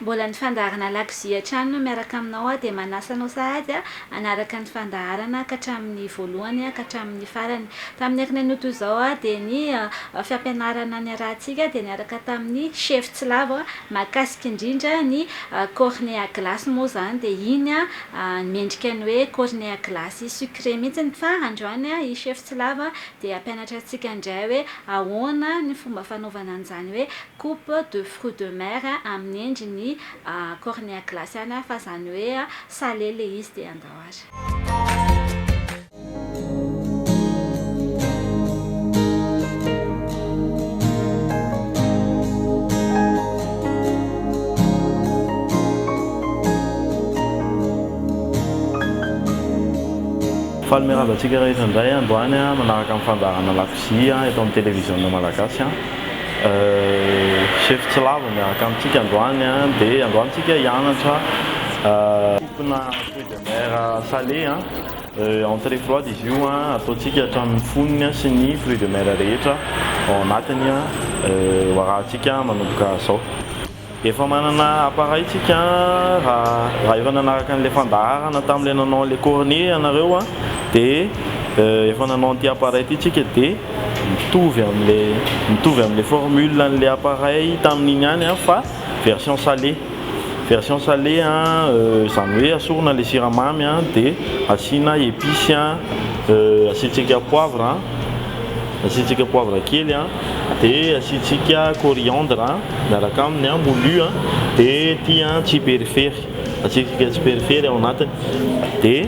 Mbola ny fandaharana lakozia hatrany no miaraka aminao aho dia manasa anao sahady hanaraka ny fandaharana ka hatramin'ny voalohany ka hatramin'ny farany. Tamin'ny ankinan'io toy izao dia ny fampianarana niarahantsika dia niaraka tamin'ny Chef Tsilavo mahakasika indrindra ny cornet à glace moa izany dia iny mendrika ny hoe cornet à glace sucré mihitsy ny fa androany i Chef Tsilavo dia hampianatra antsika indray hoe ahoana ny fomba fanaovana an'izany hoe coupe de fruits de mer amin'ny endriny cornea glaciana fa zany hoe salé le izy dia andao ary. Faly miarahaba antsika rehetra indray androany manaraka ny fandaharana lakozia eto amin'ny televiziona malagasy. Chef tsy lavo ny miaraka amintsika androany an, dia androany tsika hianatra Fompina fruits de mer salé an, entrée froide izy io an, ataontsika hatramin'ny fonony an, sy ny fruits de mer rehetra ao anatiny an, ho arahantsika manomboka zao. Efa manana appareil tsika raha efa nanaraka an'ilay fandaharana tamin'ilay nanao an'ilay cornet ianareo dia efa nanao an'ity appareil ity tsika dia mitovy amin'ilay mitovy amin'ilay formule an'ilay appareil tamin'iny ihany fa version salé version salé izany hoe asorina ilay siramamy dia asiana epices asiantsika poivre Asiantsika poivre kely a, dia asiantsika coriandre miaraka aminy, moulu a, dia ity a tsiperifery, asiantsika tsiperifery ao anatiny, dia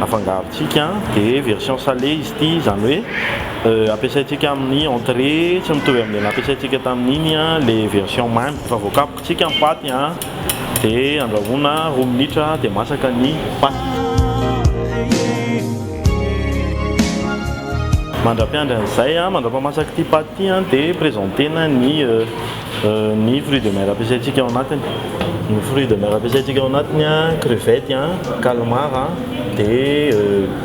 afangarontsika, dia version salée izy ity, izany hoe ampiasaintsika amin'ny entrée tsy mitovy amin'ilay nampiasaintsika tamin'iny ilay version mamy efa voakapoka. Asiaka ny paty a dia andrahoina roa minitra dia masaka ny paty. Mandra-piandry an'izay a, mandra-pamasaky ity paty ity a dia presentena ny ny fruits de mer ampiasaintsika ao anatiny. Ny fruits de mer ampiasaintsika ao anatiny a, crevettes a, calmar a dia.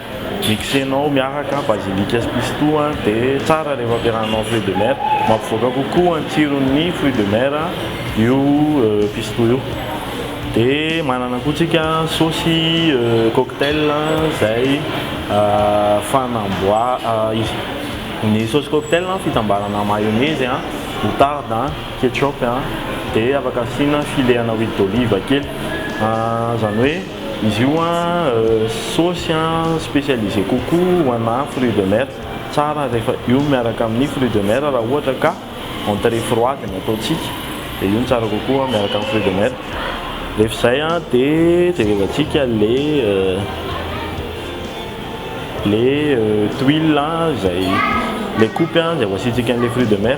Mixenao miaraka basilika sy pistou dia tsara rehefa ampiarahanao fruits de mer. Mampivoaka kokoa ny tsiron'ny fruits de mer io pistou io. Dia manana koa tsika saosy cocktail izay fanamboaha-, ny saosy cocktail fitambarana mayonnaise, moutarde, ketchup dia afaka asiana filehana huile d'olive kely. Izany hoe. Izy io saosy spécialisé kokoa ho ana fruits de mer, tsara rehefa io miaraka amin'ny fruits de mer raha ohatra ka entrée froide no ataontsika dia io no tsara kokoa miaraka amin'ny fruits de mer, rehefa izay dia jerevantsika le le tuile izay le kopy izay ho asiantsika an'ilay fruits de mer.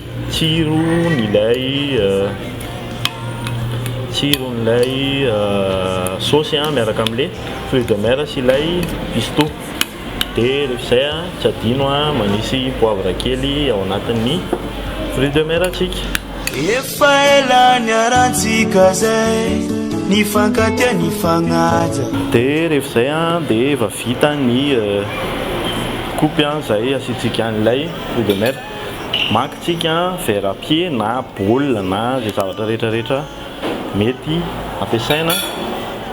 Tsiron'ilay tsiron'ilay saosy a miaraka amle fruits de mer sy ilay pistou de rehefa izay a tsy adino a manisy poivre kely ao anatin'ny fruits de mer tsika. Efa ela niarantsika zay nifankatia nifagnaja. De rehefa izay a de efa vita ny kopy a izay asiantsika an'ilay fruits de mer. Maka isika verre à pied na bol na izay zavatra rehetra rehetra mety ampiasaina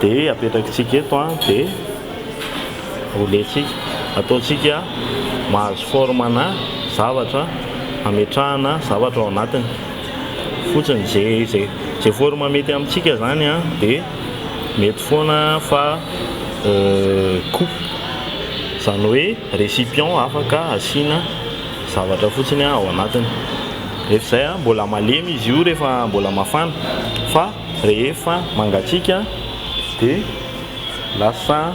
dia apetrakintsika eto dia rouletsika, ataontsika mahazo forme ana zavatra ametrahana zavatra ao anatiny fotsiny, izay izay izay forme mety amintsika izany dia mety foana fa coupe izany hoe. Récipient afaka asiana zavatra fotsiny ao anatiny. Rehefa izay, mbola malemy izy io rehefa mbola mafana fa rehefa mangatsiaka dia lasa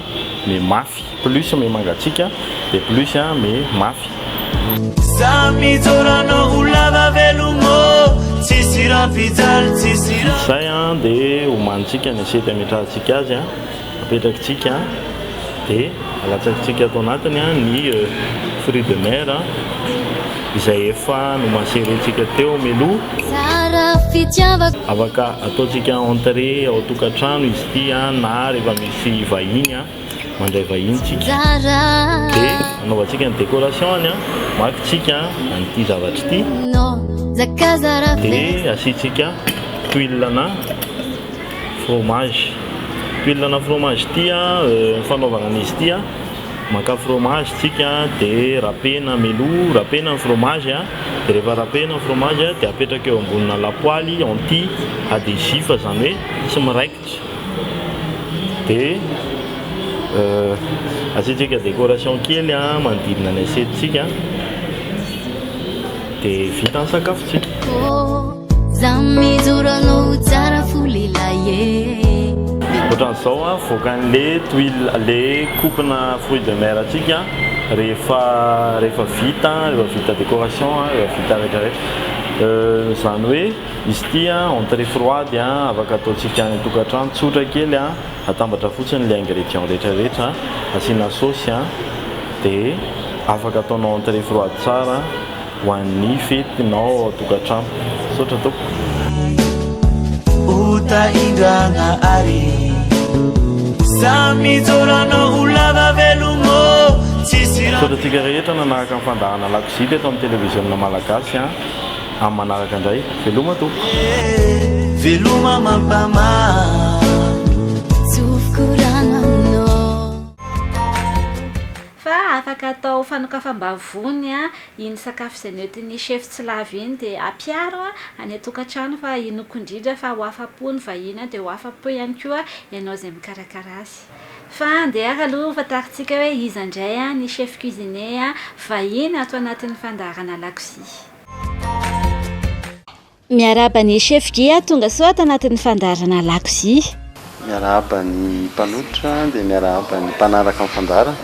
mi mafy. Plus mi mangatsiaka dia plus mi mafy. Izay dia omanintsika ny assiette ametrahantsika azy. apetrakitsika dia alatsakitsika ato anatiny ny fruit de mer izay efa nomaserentsika teo meloha afaka ataontsika entrée ao tokantrano izy ity na rehefa misy vahiny mandray vahiny tsika dia anaovantsika ny décoration-ny maka tsika an'ity zavatra ity dia asiantsika huile-na fromage pilina na fromage ity a ny fanaovana an'izy ity a maka fromage tsika dia rapena meloa rapena ny fromage a dia rehefa rapena ny fromage a dia apetraka eo ambonina lapoaly anti adhesif izany hoe tsy miraikitra dia asiantsika décoration kely a manodidina ny assiette tsika. dia vita ny sakafontsika. Ohatran'izao avoaka an'le tuile le coupe-na fruits de mer antsika rehefa rehefa vita rehefa vita décoration rehefa vita rehetra rehetra izany hoe izy ity entrée froide afaka ataontsika any an-tokantrano tsotra kely Atambatra fotsiny ilay ingrédients rehetra rehetra asiana saosy a, dia afaka ataonao entrée froide tsara ho an'ny fetinao ao tokantrano. Misaotra tompoko. Misaotra antsika rehetra nanahaka ny fandahana lakozia teto amin'ny televiziona malagasy a. Amin'ny manaraka indray. Veloma tompoko. Veloma mampamamy. Fa afaka atao fanokafam-bavony iny sakafo izay noentin'ny chef tsy lavo iny dia ampiaro any an-tokantrano fa inoako indrindra fa ho afa-po ny vahiny dia ho afa-po ihany koa ianao izay mikarakara azy. Fa andeha ary aloha hofantarintsika hoe iza indray ny chef cuisinier vahiny ato anatin'ny fandaharana lakozia. Miarahaba ny chef Gia tonga soa ato anatin'ny fandaharana lakozia. Miarahaba ny mpanotra dia miarahaba ny mpanaraka ny fandaharana.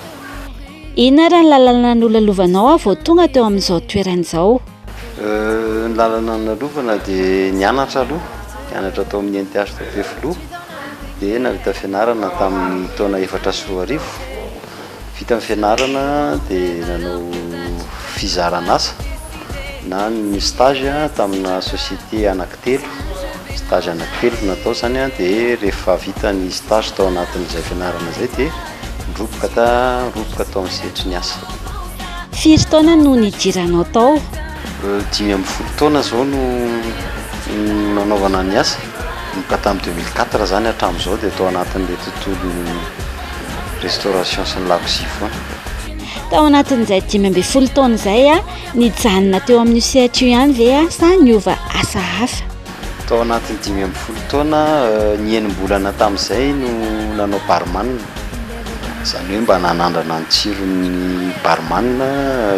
Inona ary ny lalana nolalovanao aho vao tonga teo amin'izao toerana izao? Euh, ny lalana nolalovana dia nianatra aloha, nianatra tao amin'ny NTH tao Ampefiloha dia nahavita fianarana tamin'ny taona efatra sy roa arivo. Vita ny fianarana dia nanao fizaran'asa na ny stage tamina société anankitelo, stage anankitelo no natao izany dia rehefa vita ny stage tao anatin'izay fianarana izay dia niroboka ta niroboka tao amin'ny sehatry ny asa. Firy taona no nidiranao tao? Dimy ambin'ny folo taona izao no nanaovana ny asa. Nanomboka tamin'ny deux mille quatre izany hatramin'izao dia tao anatin'ilay tontolon'ny restauration sy ny lakozia foana. Tao anatin'izay dimy ambin'ny folo taona izay a, nijanona teo amin'io sehatra io ihany ve aho sa niova asa hafa? Tao anatin'ny dimy ambin'ny folo taona, ny enim-bolana tamin'izay no nanao barman, izany hoe mba nanandrana ny tsiron'ny barman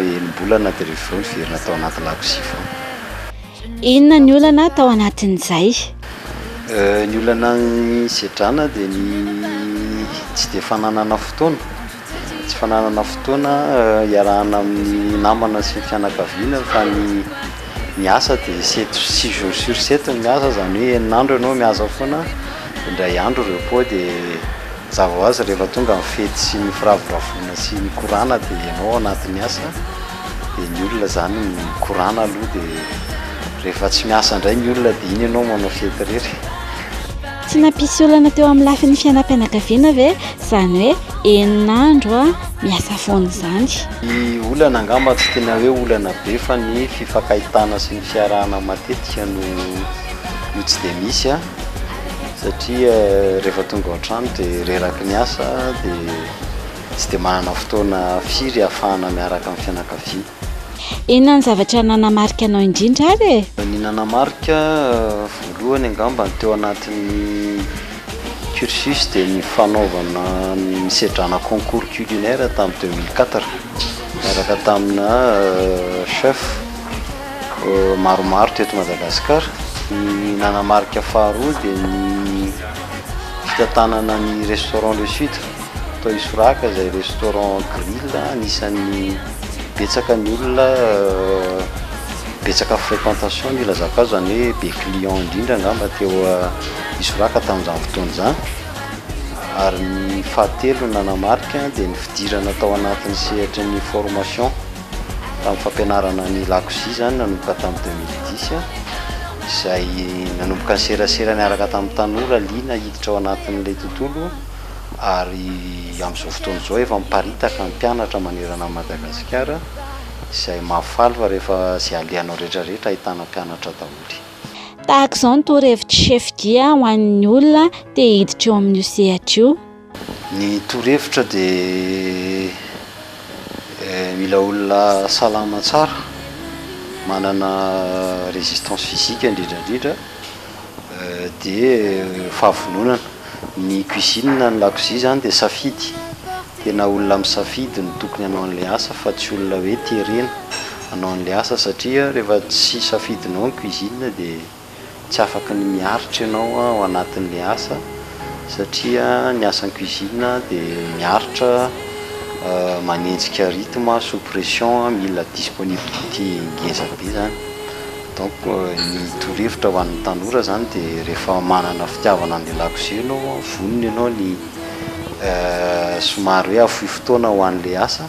enim-bolana dia rehefa avy eo niverina tao anaty lakozia foana. Inona ny olana tao anatin'izay? Ny olana nisedrana dia ny tsy dia fananana fotoana, tsy fananana fotoana hiarahana amin'ny namana sy ny fianakaviana fa ny ny asa dia sept six jours sur sept ny miasa izany hoe enina andro ianao miasa foana, indray andro repos dia. Mazava ho azy rehefa tonga ny fety sy ny firavoravoana sy ny korana dia ianao ao anatin'ny asa dia ny olona izany mikorana aloha dia rehefa tsy miasa indray ny olona dia iny ianao manao fety irery. Tsy nampisy olana teo amin'ny lafiny fiainam-pianakaviana ve izany hoe enina andro miasa foana izany? Ny olana angamba tsy tena hoe olana be fa ny fifankahitana sy ny fiarahana matetika no no tsy dia misy. satria rehefa tonga ao an-trano dia reraky ny asa dia tsy dia manana fotoana firy hahafahana miaraka amin'ny fianakaviana. Inona ny zavatra nanamarika anao indrindra ary e? Ny nanamarika voalohany angamba ny teo anatin'ny cursus dia ny fanaovana ny sedrana concours culinaire tamin'ny deux mille quatre miaraka tamina chef. maromaro teto Madagasikara. Ny nanamarika faharoa dia ny fitantanana ny restaurant Le Sud tao Isoraka izay restaurant grill anisan'ny betsaka ny olona betsaka fréquentation ny ilazako azy izany hoe be client indrindra angamba teo Isoraka tamin'izany fotoana izany ary ny fahatelo nanamarika dia ny fidirana tao anatin'ny sehatry ny formation. Tamin'ny fampianarana ny lakozia izany nanomboka tamin'ny deux mille dix izay nanomboka ny serasera niaraka tamin'ny tanora liana hiditra ao anatin'ilay tontolo ary amin'izao fotoana izao efa miparitaka ny mpianatra manerana an'i Madagasikara izay mahafaly fa rehefa izay alehanao rehetra rehetra ahitana mpianatra daholo. Tahaka izao ny torohevitr'i Chef Dia ho an'ny olona te hiditra eo amin'io sehatra io. Ny torohevitra dia mila olona salama tsara, manana résistance physique indrindra indrindra dia fahavononana. Ny cuisine na ny lakozia izany dia safidy, tena olona misafidy no tokony hanao an'ilay asa fa tsy olona hoe terena hanao an'ilay asa satria rehefa tsy safidinao ny cuisine dia. Tsy afaka ny miaritra ianao ao anatin'ilay asa satria ny asan'ny cuisine dia miaritra, manenjika rythme sous pression, mila disponibilité ngeza be izany. Donc ny torohevitra ho an'ny tanora izany dia rehefa manana fitiavana an'ilay lakozia ianao, vonona ianao ny somary hoe hahafoy fotoana ho an'ilay asa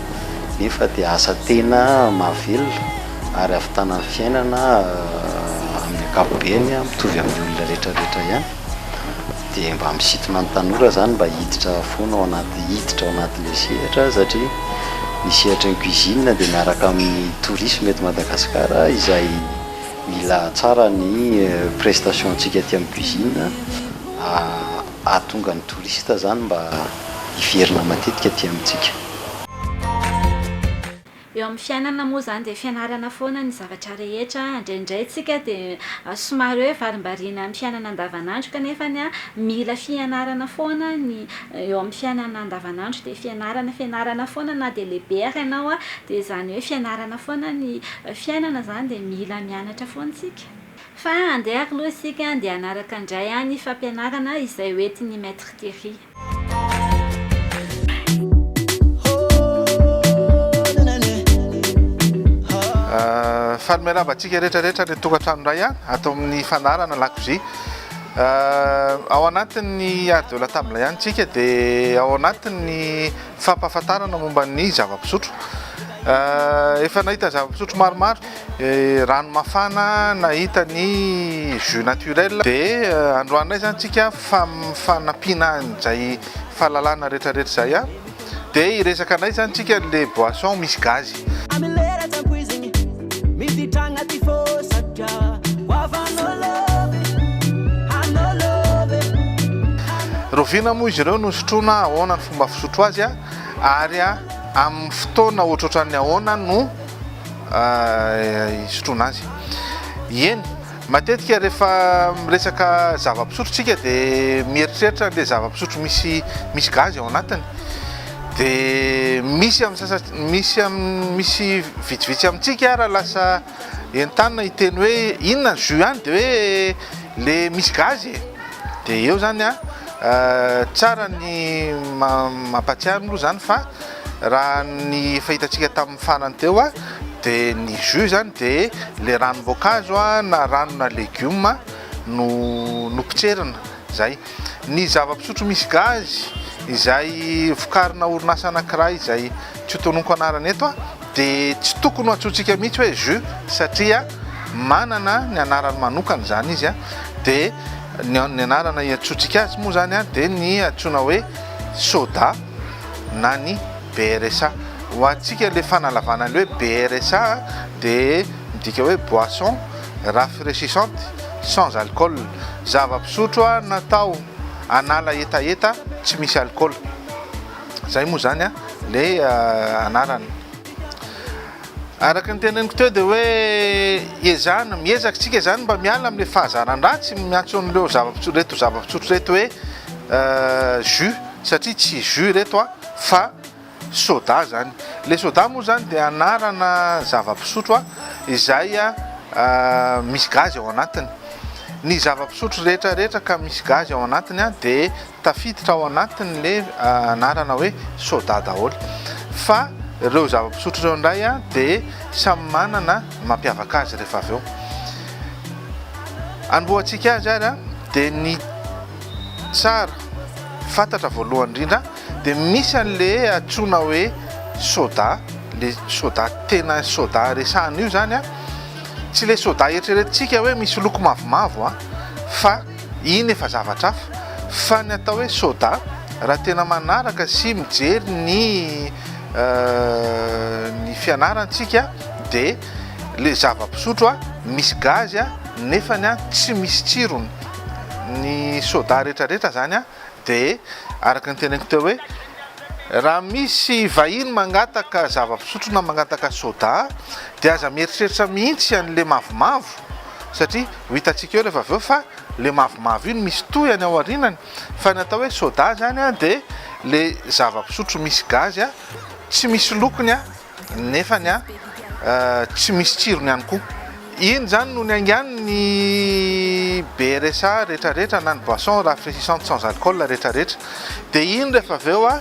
nefa dia asa tena mahavelona ary ahavitana ny fiainana amin'ny ankapobeny mitovy amin'ny olona rehetra rehetra ihany dia mba misintona ny tanora zany mba hiditra foana ao anaty hiditra ao anatin'le sehatra satria ny sehatry ny cuisine dia miaraka amin'ny tourisme eto Madagasikara izay mila tsara ny prestation antsika aty amin'ny cuisine Ahatonga ny touriste zany mba hiverina matetika aty amintsika. Eo amin'ny fiainana moa izany dia fianarana foana ny zavatra rehetra, indraindray tsika dia somary hoe varimbariana amin'ny fiainana andavanandro kanefa mila fianarana foana ny eo amin'ny fiainana andavanandro dia fianarana fianarana foana na dia lehibe ary ianao dia izany hoe fianarana foana ny fiainana izany dia mila mianatra foana tsika. Fa andeha ary loha isika andeha hanaraka indray an ny fampianarana izay ho entin ny Maître Thierry. Faly miarahaba antsika rehetra rehetra any an-tokantrano indray an, ato amin'ny fandaharana lakozia. Ao anatin'ny art de la table ihany isika dia ao anatin'ny fampahafantarana momba ny zava-pisotro. Efa nahita zava-pisotro maromaro. rano mafana nahita ny jus naturel de euh, androanay zany tsika fanampiana an'izay fahalalana retraretra zay a de iresaka anay zany tsika le boisson misy gazy rovina moa izy ireo no sotroana ahoana ny fomba fisotro azy a ary a amin'ny fotoana ohatrohatran'ny ahoana no hisotroana azy. Eny, matetika rehefa miresaka zava-pisotro tsika dia mieritreritra an'ilay zava-pisotro misy misy gazy ao anatiny. Dia misy amin'ny sasa misy amin'ny misy vitsivitsy amintsika ara lasa entanina hiteny hoe inona ny jus any dia hoe le misy gazy e. Dia eo zany a, euh, tsara ny mampatsiaro aloha zany fa Raha ny efa hitantsika tamin'ny farany teo dia ny jus izany dia ilay ranom-boankazo na rano na legioma no nopotserina izay. Ny zava-pisotro misy gazy izay vokarina orinasa anankiray izay tsy hotononiko anarana eto dia tsy tokony ho antsointsika mihitsy hoe jus satria manana ny anarany manokana izany izy dia ny anarana iantsointsika azy moa izany dia ny antsoina hoe soda. na ny BRSA. Ho antsika le fanalavana le hoe BRSA de midika hoe boisson rafraîchissante sans alcool, zava-pisotro natao hanala hetaheta tsy misy alcool. Zay moa zany le anarany. Araka ny teneniko teo de hoe ezahana, miezaka tsika zany mba miala amle fahazaran-dratsy miantso anreo zava-pisotro reto zava-pisotro reto hoe jus. satria tsy jus ireto a fa soda zany, le soda moa zany dia anarana zava-pisotro a izay a misy gazy ao anatiny, ny zava-pisotro rehetra rehetra ka misy gazy ao anatiny a de tafiditra ao anatiny le anarana hoe soda daholo, fa reo zava-pisotro reo ndray a de samy manana ny mampiavaka azy rehefa avy eo, amboatsika azy ary a de ny. Tsara fantatra voalohany indrindra dia misy an'le antsoina hoe soda, le soda tena soda resahana io zany a, tsy le soda eritreretintsika hoe misy loko mavomavo a, fa iny efa zavatra hafa, fa ny atao hoe soda raha tena manaraka sy mijery ny ny fianarantsika de le zava-pisotro misy gazy nefany a tsy misy tsirony. ny soda rehetra rehetra zany de araka ny teneniko teo hoe raha misy vahiny mangataka zava-pisotro na mangataka soda de aza mieritreritra mihitsy an'le mavomavo satria ho hitantsika eo rehefa avy eo fa le mavomavo iny misy tohany ao arinany fa ny atao hoe soda zany a de le zava-pisotro misy gazy a tsy misy lokony a nefany a tsy misy tsirony ihany koa. Iny izany no niaingany ny BRSA retraretra na ny boisson rafraîchissante sans alcool retraretra. Dia iny rehefa avy eo a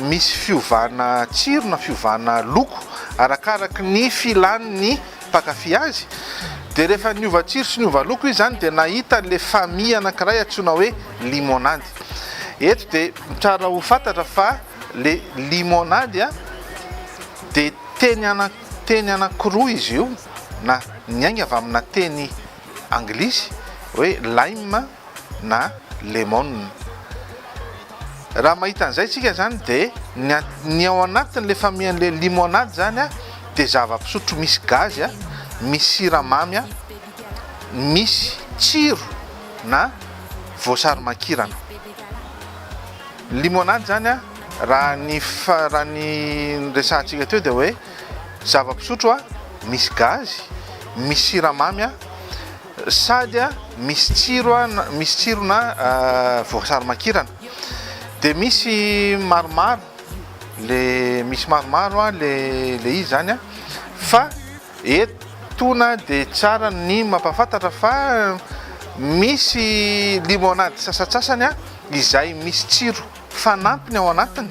misy fiovana tsiro na fiovana loko arakaraky ny filan'ny mpankafy azy. Dia rehefa niova tsiro sy niova loko izy izany dia nahita ilay famille anankiray antsoina hoe limonady. Eto dia tsara ho fantatra fa. Le limonade a de teny ana teny anankiroa izy io na niainga avy amina teny anglisy hoe lime na lemon. Raha mahita an'izay tsika zany de ny a ny ao anatin'le famian'le limonade zany a de zava-pisotro misy gazy a, misy siramamy a, misy tsiro na voasarimakirana. Limonade zany a, raha ny fa raha ny niresahantsika teo dia hoe zava-pisotro a misy gazy, misy siramamy a, sady a misy tsiro a na misy tsirona voasary makirana. Dia misy maromaro le misy maromaro a le le izy zany a, fa etona dia tsara ny mampahafantatra fa misy limonade sasatsasany a. izay misy tsiro fanampiny ao anatiny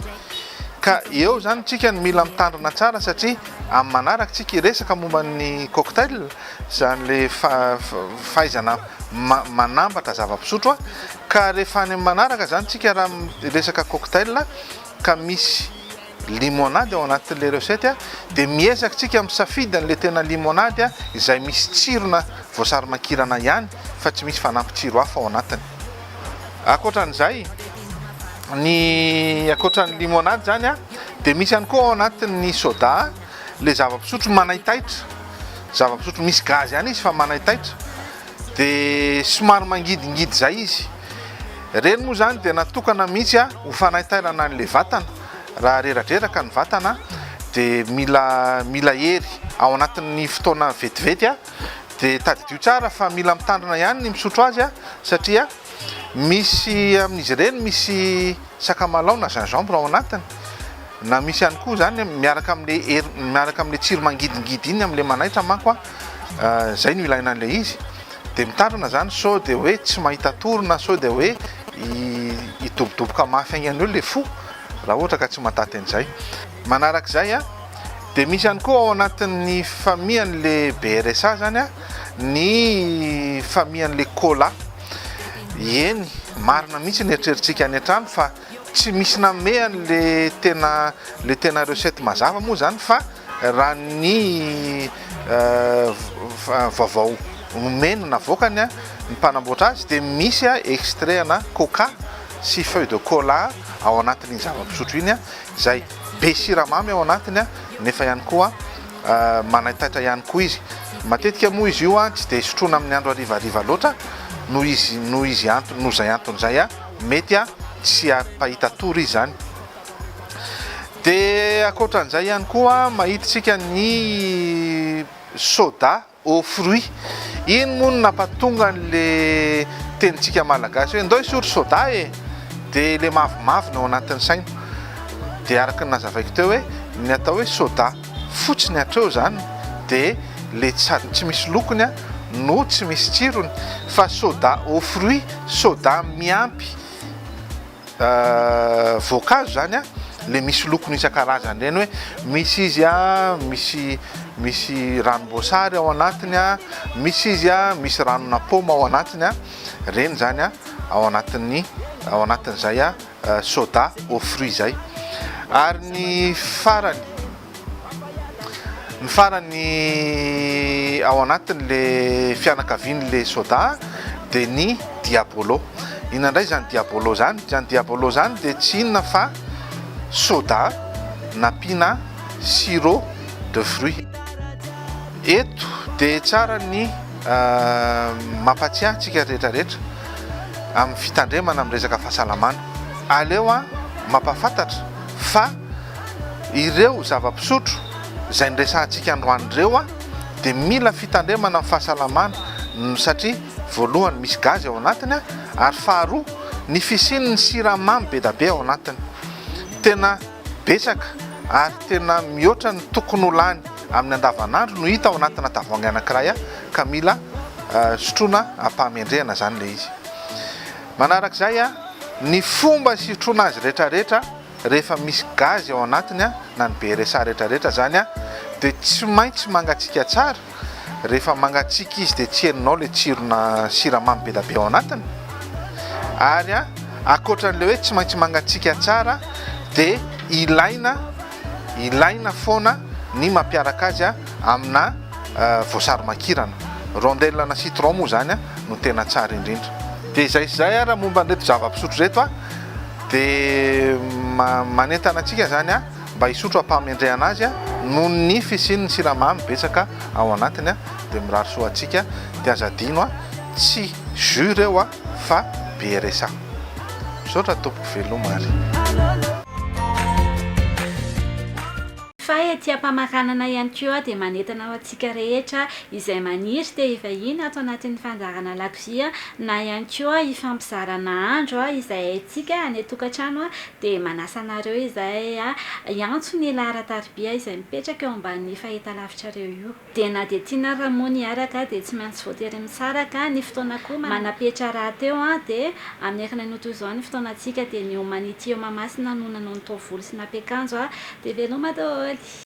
ka eo zany tsika no mila mitandrina tsara satria amin'ny manaraka tsika hiresaka momba ny cocktail zany le fahaizana manambatra zava-pisotro a ka rehefa any amin'ny manaraka zany tsika raha resaka cocktail ka misy Limonade ao anatin'ilay recette dia miezaka tsika misafidy an'ilay tena limonade izay misy tsirona voasarimakirana ihany fa tsy misy fanampy tsiro hafa ao anatiny. Ankoatran'izay, ny ankoatran'ny limonade izany dia misy ihany koa ao anatin'ny soda ilay zava-pisotro manaitaitra, zava-pisotro misy gazy ihany izy fa manaitaitra. dia somary mangidingidy izay izy. Ireny moa izany dia natokana mihitsy ho fanaintainana an'ilay vatana. Raha reradreraka ny vatana dia mila mila hery. Ao anatin'ny fotoana vetivety dia tadidio tsara fa mila mitandrina ihany ny misotro azy satria misy amin'izy ireny misy sakamalaho na gingembre ao anatiny na misy ihany koa izany miaraka amin'ilay hery miaraka amin'ilay tsiro mangidingidy iny amin'ilay manaitra manko a. Zay no ilaina an'ilay izy. Dia mitandrina izany sao dia hoe tsy mahita tory na sao dia hoe hidobodoboka mafy haingana eo ilay fo raha ohatra ka tsy mahataty an'izay. Manaraka izay an, dia misy ihany koa ao anatin'ny famian'ilay BRSA izany an, ny famian'ilay cola. Eny, marina mihitsy ny eritreritsika any an-trano fa. Tsy misy namehany le tena le tena recette mazava moa zany fa raha ny vaovao nomeny navoakany ny mpanamboatra azy dia misy extrait ana coca sy feuille de cola ao anatin'iny zava-pisotro iny izay be siramamy ao anatiny nefa ihany koa manaitaitra ihany koa izy. Matetika moa izy io tsy dia sotroina amin'ny andro harivariva loatra noho izy noho izy antony noho izay antony izay. Mety a, tsy ary mpahita tour izy zany. Dia ankoatran'izay ihany koa mahitintsika ny soda aux fruits. Iny moa no nampatonga an'le tenintsika malagasy hoe ndao hisotro soda e! dia ilay mavomavo no ao anatin'ny saina. Dia araka ny nazavaiko teo hoe ny atao hoe soda. fotsiny hatreo zany de le tsy misy lokony a no tsy misy tsirony fa soda au fruit soda miampy voankazo zany a le misy lokony isan-karazany reny hoe misy izy a misy misy ranom-boasary ao anatiny a misy izy a misy ranona paoma ao anatiny a reny zany a ao anatin'ny ao anatin'izay a soda aux fruits zay ary ny farany ny farany ao anatiny le fianakaviany le soda de ny diabolo ina ndray zany diabolo zany zany diabolo zany de tsy inona fa soda napina sirop de fruits eto de tsara ny Mampatsiahy antsika rehetra rehetra amin'ny fitandremana amin'ny resaka fahasalamana. Aleo an mampafantatra fa ireo zava-pisotro izay niresahantsika androany ireo an dia mila fitandremana amin'ny fahasalamana satria voalohany misy gazy ao anatiny an ary faharoa ny fisian'ny siramamy be da be ao anatiny. Tena. Betsaka ary tena mihoatra ny tokony ho lany amin'ny andavanandro no hita ao anatina tavoahangy anankiray ka mila sotroina am-pahamendrehana izany ilay izy. Manaraka izay ny fomba sitroana azy rehetrarehetra rehefa misy gazy ao anatiny na ny BRSA rehetrarehetra izany dia tsy maintsy mangatsiaka tsara rehefa mangatsiaka izy dia tsy herinao ilay tsirona siramamy be dia be ao anatiny ary a ankoatran'ilay hoe tsy maintsy mangatsiaka tsara dia ilaina ilaina foana ny mampiaraka azy a amina voasary makirana rondelle na citron moa izany a no tena tsara indrindra dia izay sy izay ara momba an'ireto zava-pisotro ireto a dia manentana antsika izany a mba hisotro ampahamendrehana azy noho ny fisian'ny siramamy betsaka ao anatiny dia mirary soa antsika dia aza adino tsy jus ireo fa BRSA misaotra tompoko veloma ary Fa ety ampamaranana ihany koa dia manentana ho antsika rehetra izay maniry te hivahiny ato anatin'ny fandaharana lakozia na ihany koa hifampizarana andro izay haintsika any an-tokantrano dia manasa anareo izahay hiantso ny laharan-tariby izay mipetraka eo ambanin'io fahitalavitrareo io. Dia na dia tiana ary moa ny hiaraka dia tsy maintsy voatery misaraka, ny fotoana koa manapetra rahateo dia amin'ny akany anio toy izao ny fotoanantsika dia ny Humanity eo Mahamasina no nanao ny taovolo sy nampiakanjo, dia veloma daholo.